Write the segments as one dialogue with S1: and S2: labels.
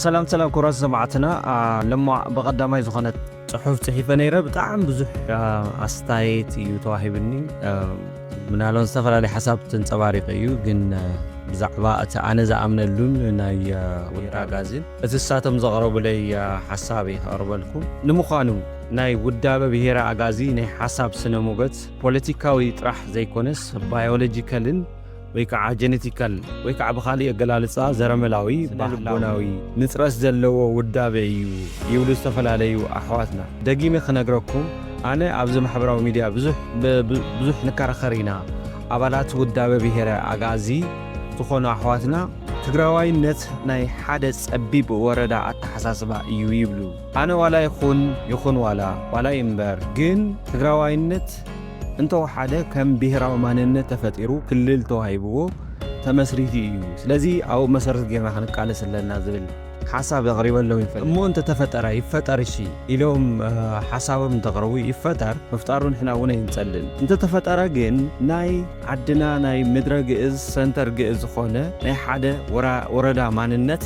S1: ሰላም ሰላም ኩራት ሰማዕትና ለማ ብቐዳማይ ዝኾነት ፅሑፍ ፅሒፈ ነይረ ብጣዕሚ ብዙሕ ኣስተያየት እዩ ተዋሂብኒ ምናልባት ዝተፈላለዩ ሓሳብ ተንፀባሪቀ እዩ ግን ብዛዕባ እቲ ኣነ ዝኣምነሉን ናይ ወይራ ጋዝን እቲ ሳቶም ዘቕረቡለይ ሓሳብ እዩ ከቕርበልኩም ንምዃኑ ናይ ውዳበ ብሄረ ኣጋዚ ናይ ሓሳብ ስነ ሞገት ፖለቲካዊ ጥራሕ ዘይኮነስ ባዮሎጂካልን ወይ ከዓ ጀነቲካል ወይ ከዓ ብኻሊእ ኣገላልፃ ዘረመላዊ ባህላዊ ንፅረት ዘለዎ ውዳበ እዩ ይብሉ ዝተፈላለዩ ኣሕዋትና። ደጊመ ክነግረኩም ኣነ ኣብዚ ማሕበራዊ ሚድያ ብዙሕ ንከራኸር ኢና ኣባላት ውዳበ ብሄረ ኣጋዚ ዝኾኑ ኣሕዋትና ትግራዋይነት ናይ ሓደ ፀቢብ ወረዳ ኣተሓሳስባ እዩ ይብሉ። ኣነ ዋላ ይኹን ይኹን ዋላ ዋላ ይንበር ግን ትግራዋይነት እንተወሓደ ከም ብሄራዊ ማንነት ተፈጢሩ ክልል ተዋሂብዎ ተመስሪቱ እዩ ስለዚ ኣብኡ መሰረት ጌርና ክንቃለስ ኣለና ዝብል ሓሳብ ኣቕሪበሎም ይፈልጥ እሞ እንተተፈጠረ ይፈጠር እሺ ኢሎም ሓሳቦም እንተቕርቡ ይፈጠር ምፍጣሩ ንሕና እውን ኣይንጸልን እንተተፈጠረ ግን ናይ ዓድና ናይ ምድረ ግእዝ ሰንተር ግእዝ ዝኾነ ናይ ሓደ ወረዳ ማንነት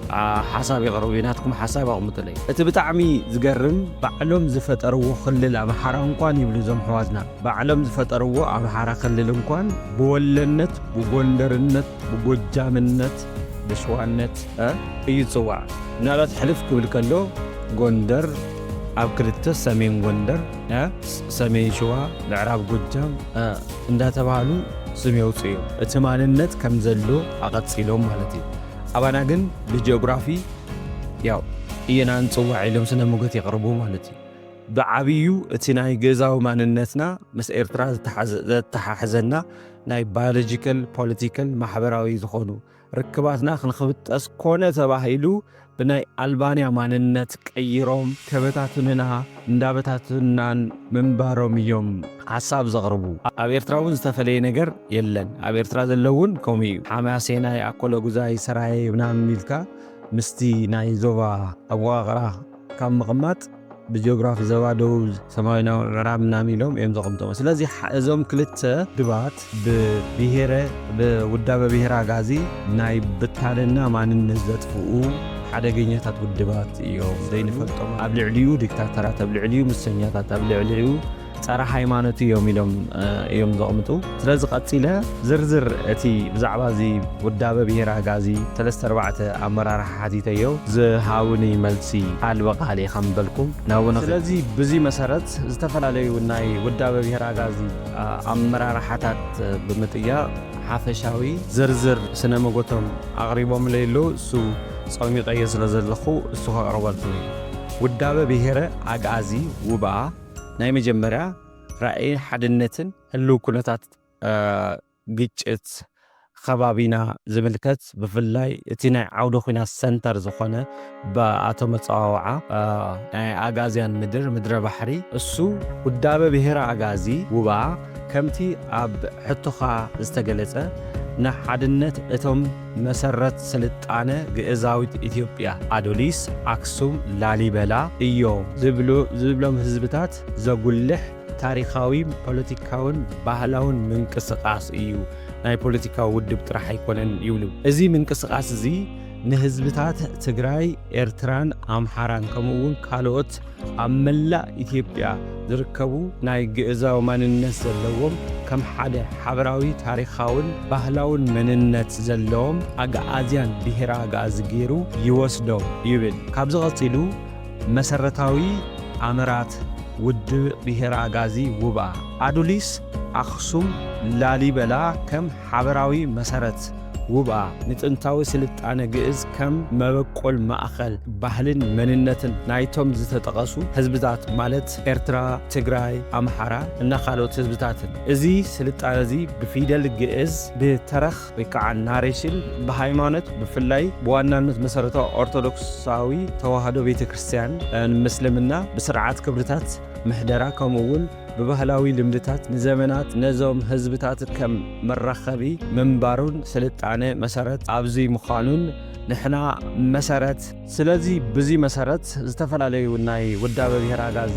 S1: ሓሳብ የቕርብ ናትኩም ሓሳብ ኣቕምጡለይ። እቲ ብጣዕሚ ዝገርም ባዕሎም ዝፈጠርዎ ክልል ኣምሓራ እንኳን ይብሉ እዞም ኣሕዋትና ባዕሎም ዝፈጠርዎ ኣምሓራ ክልል እንኳን ብወሎነት ብጎንደርነት ብጎጃምነት ብሽዋነት እ እዩ ዝፅዋዕ ምናልባት ሕልፍ ክብል ከሎ ጎንደር ኣብ ክልተ ሰሜን ጎንደር እ ሰሜን ሽዋ ምዕራብ ጎጃም እ እንዳተባሃሉ ስም የውፅኡ እዮም እቲ ማንነት ከም ዘሎ ኣቐፂሎም ማለት እዩ። ኣባና ግን ብጀኦግራፊ ያው እየና እንጽዋዕ ኢሎም ስነ ሞገት የቕርቡ ማለት እዩ። ብዓብዩ እቲ ናይ ገዛዊ ማንነትና ምስ ኤርትራ ዘተሓሕዘና ናይ ባዮሎጂካል፣ ፖለቲካል፣ ማሕበራዊ ዝኾኑ ርክባትና ክንክብጠስ ኮነ ተባሂሉ ብናይ ኣልባንያ ማንነት ቀይሮም ከበታትኑና እንዳበታተኑናን ምንባሮም እዮም ሓሳብ ዘቕርቡ። ኣብ ኤርትራ ውን ዝተፈለየ ነገር የለን። ኣብ ኤርትራ ዘሎ ውን ከምኡ እዩ። ሓማሴናይ፣ ኣኮሎጉዛይ፣ ሰራየ ምናምን ኢልካ ምስቲ ናይ ዞባ ኣወቓቕራ ካብ ምቕማጥ ብጂኦግራፊ ዞባ ደቡብ፣ ሰማዊናዊ ምዕራብ ምናምን ኢሎም እዮም ዘቐምጥዎ። ስለዚ እዞም ክልተ ድባት። ብብሄረ ብውዳበ ብሄረ ኣግኣዚ ናይ ብታንና ማንነት ዘጥፍኡ ሓደገኛታት ውድባት እዮም ዘይንፈልጦም ኣብ ልዕሊኡ ዲክታተራት ኣብ ልዕሊኡ ምሰኛታት ኣብ ልዕሊኡ ጸረ ሃይማኖት እዮም ኢሎም እዮም ዘቕምጡ ስለዚ ቀጺለ ዝርዝር እቲ ብዛዕባ እዚ ውዳበ ብሄር ኣጋዚ ሰለስተ ኣርባዕተ ኣመራርሓ ሓቲተዮ ዝሃውኒ መልሲ ኣልበ ቃል ኢኻ ምበልኩም ናብነ ስለዚ ብዚ መሰረት ዝተፈላለዩ ናይ ውዳበ ብሄር ኣጋዚ ኣመራርሓታት ብምጥያቕ ሓፈሻዊ ዝርዝር ስነ መጎቶም ኣቕሪቦምለይ ኣለዉ። እሱ ጸሚቐዮ ስለ ዘለኹ እሱ ከቕርበልኩም እየ። ውዳበ ብሄረ ኣግኣዚ ውብኣ ናይ መጀመርያ ራእይ ሓድነትን ህልው ኩነታት ግጭት ኸባቢና ዝምልከት ብፍላይ እቲ ናይ ዓውደ ኹናት ሰንተር ዝኾነ ባኣቶ መጸዋውዓ ናይ ኣጋዝያን ምድር ምድረ ባሕሪ እሱ ውዳበ ብሄረ ኣጋዚ ውባ ከምቲ ኣብ ሕቶኻ ዝተገለጸ ንሓድነት እቶም መሰረት ስልጣነ ግእዛዊት ኢትዮጵያ ኣዶሊስ ኣክሱም ላሊበላ እዮም ዝብሎም ህዝብታት ዘጉልሕ ታሪኻዊ፣ ፖለቲካውን ባህላውን ምንቅስቓስ እዩ፣ ናይ ፖለቲካዊ ውድብ ጥራሕ ኣይኮነን ይብሉ። እዚ ምንቅስቓስ እዚ ንህዝብታት ትግራይ፣ ኤርትራን ኣምሓራን ከምኡ እውን ካልኦት ኣብ መላእ ኢትዮጵያ ዝርከቡ ናይ ግእዛዊ ማንነት ዘለዎም ከም ሓደ ሓበራዊ ታሪኻውን ባህላውን መንነት ዘለዎም ኣግኣዝያን ብሄረ ኣግኣዚ ገይሩ ይወስዶም ይብል። ካብዚ ቀፂሉ መሰረታዊ ኣምራት ውድብ ብሄረ ኣጋዚ ውባ፣ ኣዱሊስ፣ ኣኽሱም፣ ላሊበላ ከም ሓበራዊ መሰረት ውባ፣ ንጥንታዊ ስልጣነ ግእዝ ከም መበቆል ማእከል ባህልን መንነትን ናይቶም ዝተጠቐሱ ህዝብታት ማለት ኤርትራ፣ ትግራይ፣ ኣምሓራ እና ካልኦት ህዝብታትን እዚ ስልጣነዚ ብፊደል ግእዝ ብተረኽ፣ ወይ ከዓ ናሬሽን ብሃይማኖት ብፍላይ ብዋናነት መሰረታዊ ኦርቶዶክሳዊ ተዋህዶ ቤተ ክርስቲያን ን ምስልምና ብስርዓት ክብርታት ምሕደራ ከምኡ እውን ብባህላዊ ልምድታት ንዘመናት ነዞም ህዝብታት ከም መራኸቢ ምንባሩን ስልጣነ መሰረት ኣብዙይ ምዃኑን ንሕና መሰረት ስለዚ ብዚ መሰረት ዝተፈላለዩ ናይ ውዳበ ብሄር ኣጋዚ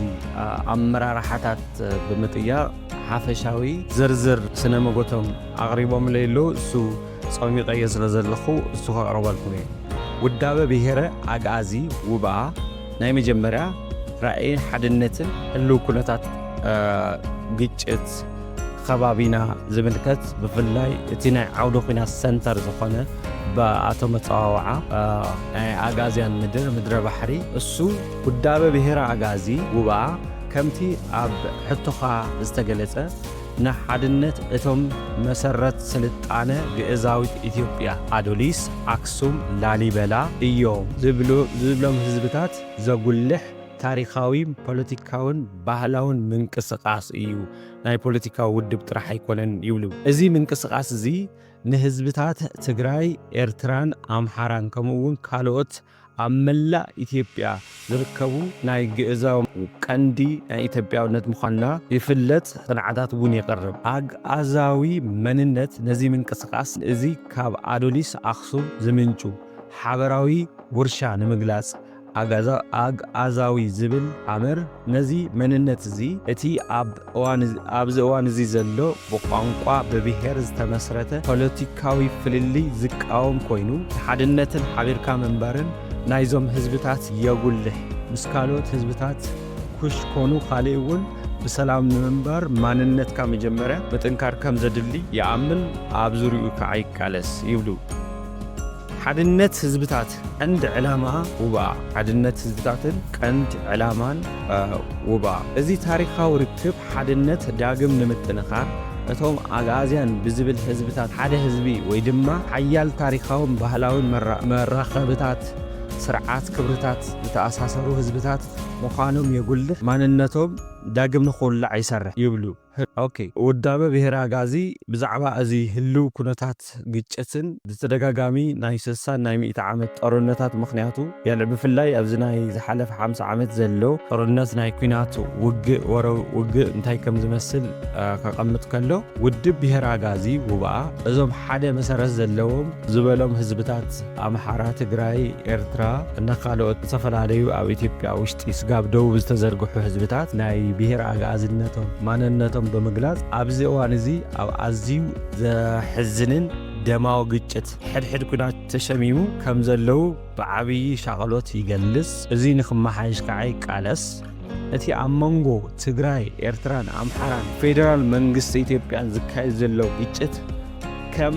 S1: ኣመራርሓታት ብምጥያቕ ሓፈሻዊ ዝርዝር ስነ መጎቶም ኣቕሪቦምለይ ኣለዉ። እሱ ጸሚቐዮ ስለ ዘለኹ እሱ ከቕርበልኩም እየ። ውዳበ ብሄረ ኣግኣዚ ውብኣ ናይ መጀመርያ ራእይን ሓድነትን ህልው ኩነታት ግጭት፣ ኸባቢና ዝምልከት ብፍላይ እቲ ናይ ዓውደ ኹናት ሰንተር ዝኾነ ብኣቶ መፀዋወዓ ናይ ኣጋዝያን ምድር ምድረ ባሕሪ እሱ ውዳበ ብሄረ ኣጋዚ ጉባኣ ከምቲ ኣብ ሕቶኻ ዝተገለፀ ንሓድነት እቶም መሰረት ስልጣነ ግእዛዊት ኢትዮጵያ ኣዶሊስ ኣክሱም ላሊበላ እዮም ዝብሎም ህዝብታት ዘጉልሕ ታሪኻዊ፣ ፖለቲካውን ባህላውን ምንቅስቓስ እዩ፣ ናይ ፖለቲካዊ ውድብ ጥራሕ ኣይኮነን ይብሉ። እዚ ምንቅስቓስ እዚ ንህዝብታት ትግራይ፣ ኤርትራን ኣምሓራን ከምኡ እውን ካልኦት ኣብ መላእ ኢትዮጵያ ዝርከቡ ናይ ግእዛዊ። ቀንዲ ናይ ኢትዮጵያውነት ምዃንና ይፍለጥ፣ ቅንዓታት እውን የቕርብ። ኣግኣዛዊ መንነት ነዚ ምንቅስቓስ እዚ ካብ ኣዶሊስ ኣኽሱም ዝምንጩ ሓበራዊ ውርሻ ንምግላጽ፣ ኣጋዛ፣ ኣግኣዛዊ፣ ዝብል ኣምር ነዚ መንነት እዚ እቲ ኣብ እዋን ኣብዚ እዋን እዚ ዘሎ ብቋንቋ ብብሄር ዝተመስረተ ፖለቲካዊ ፍልልይ ዝቃወም ኮይኑ ንሓድነትን ሓቢርካ ምንባርን ናይዞም ህዝብታት የጉልሕ ምስ ካልኦት ህዝብታት ኩሽ ኮኑ ካሊእ እውን ብሰላም ንምንባር ማንነትካ መጀመርያ ምጥንካር ከም ዘድሊ ይኣምን ኣብ ዙርይኡ ከዓ ይቃለስ ይብሉ። ሓድነት ህዝብታት ቀንድ ዕላማ ውባ ሓድነት ህዝብታትን ቀንድ ዕላማን ውባ እዚ ታሪኻዊ ርክብ ሓድነት ዳግም ንምጥንኻር እቶም ኣግኣዝያን ብዝብል ህዝብታት ሓደ ህዝቢ ወይ ድማ ሓያል ታሪኻውን ባህላውን መራኸብታት ስርዓት ክብርታት ዝተኣሳሰሩ ህዝብታት ምዃኖም የጉልሕ፣ ማንነቶም ዳግም ንኽውላዕ ይሰርሕ ይብሉ። ህግ። ውዳበ ብሄረ ኣግኣዚ ብዛዕባ እዚ ህልው ኩነታት ግጭትን ብተደጋጋሚ ናይ ስሳን ናይ ሚእቲ ዓመት ጦርነታት ምኽንያቱ የልዕ ብፍላይ ኣብዚ ናይ ዝሓለፈ ሓምሳ ዓመት ዘሎ ጦርነት ናይ ኩናት ውግእ ወረ ውግእ እንታይ ከም ዝመስል ከቐምጥ ከሎ ውድብ ብሄረ ኣግኣዚ ውብኣ እዞም ሓደ መሰረት ዘለዎም ዝበሎም ህዝብታት ኣምሓራ፣ ትግራይ፣ ኤርትራ እና ካልኦት ዝተፈላለዩ ኣብ ኢትዮጵያ ውሽጢ ስጋብ ደቡብ ዝተዘርግሑ ህዝብታት ናይ ብሄር ኣግኣዝነቶም ማንነቶም ብምግላፅ ኣብዚ እዋን እዚ ኣብ ኣዝዩ ዘሕዝንን ደማዊ ግጭት ሕድሕድ ኩናት ተሸሚሙ ከም ዘለዉ ብዓብዪ ሻቐሎት ይገልጽ። እዚ ንክመሓየሽ ከዓ ይቃለስ። እቲ ኣብ መንጎ ትግራይ፣ ኤርትራን ኣምሓራን ፌደራል መንግስቲ ኢትዮጵያን ዝካየድ ዘሎ ግጭት ከም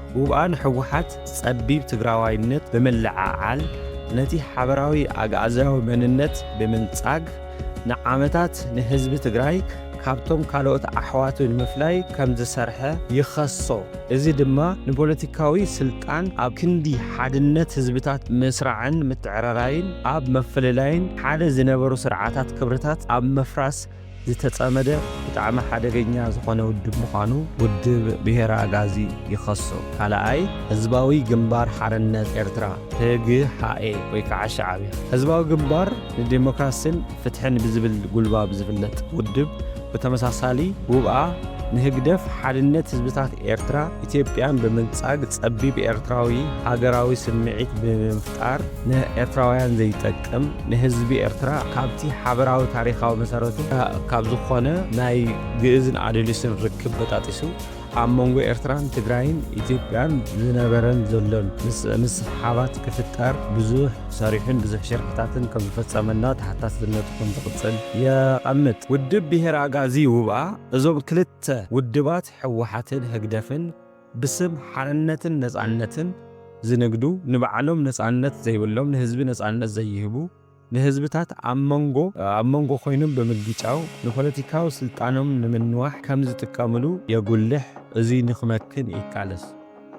S1: ጉባኣ ንሕወሓት ጸቢብ ትግራዋይነት ብምልዕዓል ነቲ ሓበራዊ ኣግኣዝያዊ መንነት ብምንጻግ ንዓመታት ንህዝቢ ትግራይ ካብቶም ካልኦት ኣሕዋቱ ንምፍላይ ከም ዝሰርሐ ይኸሶ። እዚ ድማ ንፖለቲካዊ ስልጣን ኣብ ክንዲ ሓድነት ህዝብታት ምስራዕን ምትዕርራይን ኣብ ምፍልላይን ሓደ ዝነበሩ ስርዓታት ክብርታት ኣብ ምፍራስ ዝተጸመደ ብጣዕሚ ሓደገኛ ዝኾነ ውድብ ምዃኑ ውድብ ብሄረ ኣግኣዚ ይኸሶ። ካልኣይ፣ ህዝባዊ ግንባር ሓርነት ኤርትራ፣ ህግሓኤ፣ ወይ ከዓ ሻዕብያ፣ ህዝባዊ ግንባር ንዴሞክራሲን ፍትሕን ብዝብል ጉልባብ ዝፍለጥ ውድብ፣ ብተመሳሳሊ ጉብኣ ንህግደፍ ሓድነት ህዝብታት ኤርትራ ኢትዮጵያን ብምንጻግ ጸቢብ ኤርትራዊ ሃገራዊ ስምዒት ብምንፋ፣ ምፍጣር ንኤርትራውያን ዘይጠቅም ንህዝቢ ኤርትራ ካብቲ ሓበራዊ ታሪኻዊ መሰረቱ ካብ ዝኾነ ናይ ግእዝን ኣደሊስን ርክብ በጣጢሱ ኣብ መንጎ ኤርትራን ትግራይን ኢትዮጵያን ዝነበረን ዘሎን ምስሕሓባት ክፍጠር ብዙሕ ሰሪሑን ብዙሕ ሽርሕታትን ከም ዝፈጸመና ተሓታትነቱ ከም ዝቕጽል የቐምጥ። ውድብ ብሄር ኣጋዚ ውብኣ እዞም ክልተ ውድባት ህወሓትን ህግደፍን ብስም ሓርነትን ነጻነትን ዝንግዱ ንባዕሎም ነጻነት ዘይብሎም ንህዝቢ ነጻነት ዘይህቡ ንህዝብታት ኣብ መንጎ ኣብ መንጎ ኮይኖም ብምግጫው ንፖለቲካዊ ስልጣኖም ንምንዋሕ ከም ዝጥቀምሉ የጉልሕ እዙይ ንክመክን ይቃለስ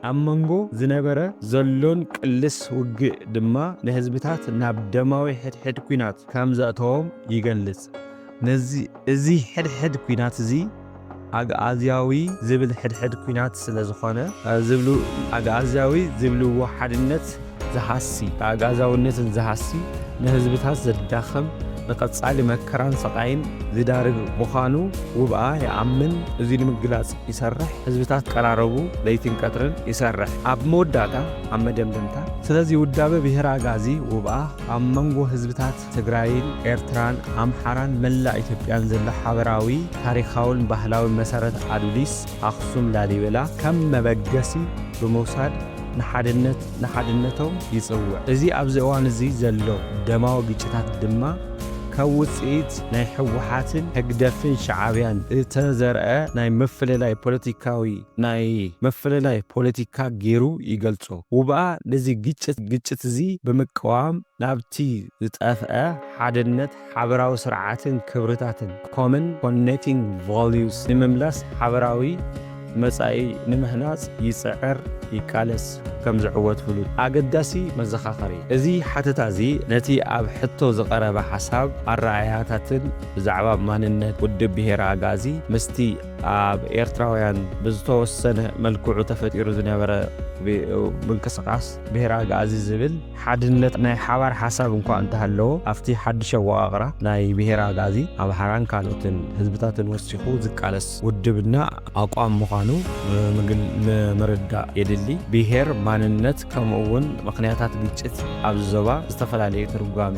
S1: ኣብ መንጎ ዝነበረ ዘሎን ቅልስ ውግእ ድማ ንህዝብታት ናብ ደማዊ ሕድሕድ ኩናት ከም ዘእተዎም ይገልጽ ነዚ እዚ ሕድሕድ ኩናት እዚ ኣግኣዝያዊ ዝብል ሕድሕድ ኩናት ስለ ዝኾነ፣ ዝብሉ ኣግኣዝያዊ ዝብልዎ ሓድነት ዝሃሲ፣ ኣግኣዝያውነትን ዝሃሲ፣ ንህዝብታት ዘዳኽም፣ ንቐጻሊ መከራን ስቓይን ዝዳርግ ምዃኑ ውብኣ ይኣምን፣ እዚ ንምግላጽ ይሰርሕ፣ ህዝብታት ክቀራረቡ ለይትን ቀትርን ይሰርሕ። ኣብ መወዳእታ፣ ኣብ መደምደምታ፣ ስለዚ ውዳበ ብሄረ ኣግኣዚ ውብኣ ኣብ መንጎ ህዝብታት፣ ትግራይን ኤርትራን ኣምሓራን መላእ ኢትዮጵያን ዘሎ ሓበራዊ ታሪኻውን ባህላውን መሰረት ኣዱሊስ ኣኽሱም ላሊበላ ከም መበገሲ ብምውሳድ ንሓድነት ንሓድነቶም ይጽውዕ። እዚ ኣብዚ እዋን እዚ ዘሎ ደማዊ ግጭታት ድማ ካብ ውጽኢት ናይ ህወሓትን ህግደፍን ሸዓብያን እተዘርኣ ናይ ምፍልላይ ፖለቲካዊ ናይ ምፍልላይ ፖለቲካ ገይሩ ይገልጾ። ውብኣ ነዚ ግጭት ግጭት'ዚ ብምቅዋም፣ ናብቲ ዝጠፍኣ ሓድነት ሓበራዊ ስርዓትን ክብርታትን፣ Common Connecting Values፣ ንምምላስ ሓበራዊ መጻኢ ንምህናጽ ይጽዕር ይቃለስ ከም ዝዕወት ፍሉጥ ኣገዳሲ መዘኻኸሪ። እዚ ሓተታ እዚ ነቲ ኣብ ሕቶ ዝቐረበ ሓሳብ ኣረኣእያታትን ብዛዕባ ማንነት ውድብ ብሄረ ኣግኣዚ ምስቲ ኣብ ኤርትራውያን ብዝተወሰነ መልክዑ ተፈጢሩ ዝነበረ ምንቅስቓስ ብሄረ ኣግኣዚ ዝብል ሓድነት ናይ ሓባር ሓሳብ እንኳ እንተሃለዎ ኣብቲ ሓድሽ ኣወቓቕራ ናይ ብሄረ ኣግኣዚ፣ ኣምሓራን ካልኦትን ህዝብታትን ወሲኹ ዝቃለስ ውድብና ኣቋም ምዃኑ ምርዳእ የድሊ። ብሄር፣ ማንነት ከምኡ እውን ምኽንያታት ግጭት ኣብዚ ዞባ ዝተፈላለዩ ትርጓሜ፣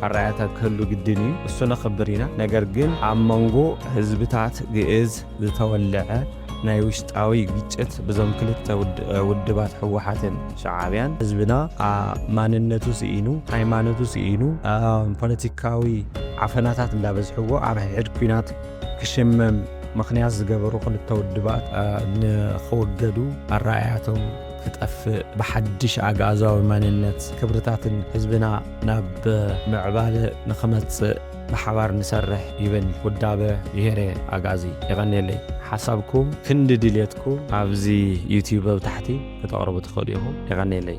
S1: ኣረኣእያታት ክህሉ ግድን እዩ። እሱ ነኽብር ኢና። ነገር ግን ኣብ መንጎ ህዝብታት ግእዝ ዝተወለዐ፣ ናይ ውሽጣዊ ግጭት ብዞም ክልተ ውድባት ህወሓትን ሸዓብያን ህዝብና ማንነቱ ስኢኑ ሃይማኖቱ ስኢኑ ፖለቲካዊ ዓፈናታት እንዳበዝሕዎ ኣብ ሕድ ኩናት ክሽመም ምክንያት ዝገበሩ ክልተ ውድባት ንክወገዱ ኣረኣያቶም ክጠፍእ ብሓድሽ ኣግኣዛዊ ማንነት ክብርታትን ህዝብና ናብ ምዕባለ ንክመፅእ ብሓባር ንሰርሕ ይብል ውዳበ ብሄረ ኣግኣዚ። የቐንየለይ። ሓሳብኩም ክንዲ ድልየትኩም ኣብዚ ዩቱብ ኣብ ታሕቲ ክተቕርቡ ትኽእሉ ኢኹም። የቐንየለይ።